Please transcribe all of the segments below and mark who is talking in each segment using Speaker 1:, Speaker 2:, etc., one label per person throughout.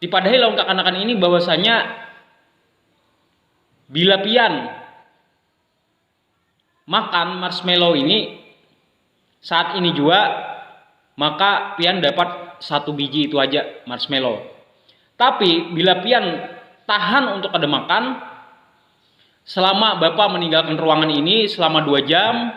Speaker 1: Dipadahi lawan kakanakan ini bahwasanya bila pian makan marshmallow ini saat ini juga maka pian dapat satu biji itu aja marshmallow. Tapi bila pian tahan untuk kada makan selama bapa meninggalkan ruangan ini selama dua jam,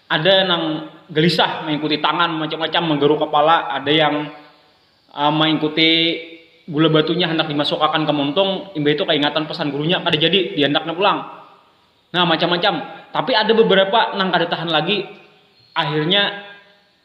Speaker 1: Ada nang galisah maingkuti tangan macam-macam manggaru kapala, ada yang maingkuti gula batunya handak dimasukakan ka muntung, imbah itu kaingatan pesan gurunya kada jadi, diandaknya pulang. Nah, macam-macam. Tapi ada beberapa nang kada tahan lagi, akhirnya.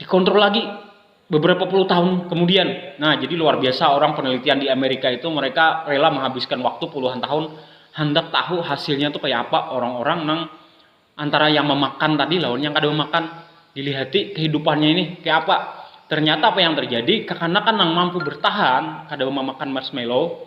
Speaker 1: dikontrol lagi beberapa puluh tahun kemudian. Nah, jadi luar biasa orang penelitian di Amerika itu mereka rela menghabiskan waktu puluhan tahun handak tahu hasilnya tuh kayak apa orang-orang nang antara yang memakan tadi lawan yang kada memakan. Dilihati kehidupannya ini kayak apa. Ternyata apa yang terjadi, kekanakan nang mampu bertahan kada memakan marshmallow,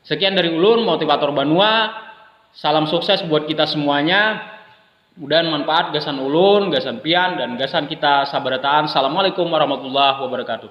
Speaker 1: Sekian dari ulun motivator banua, salam sukses buat kita semuanya, mudahan manfaat gasan ulun, gasan pian, dan gasan kita sabarataan, Assalamualaikum warahmatullahi wabarakatuh.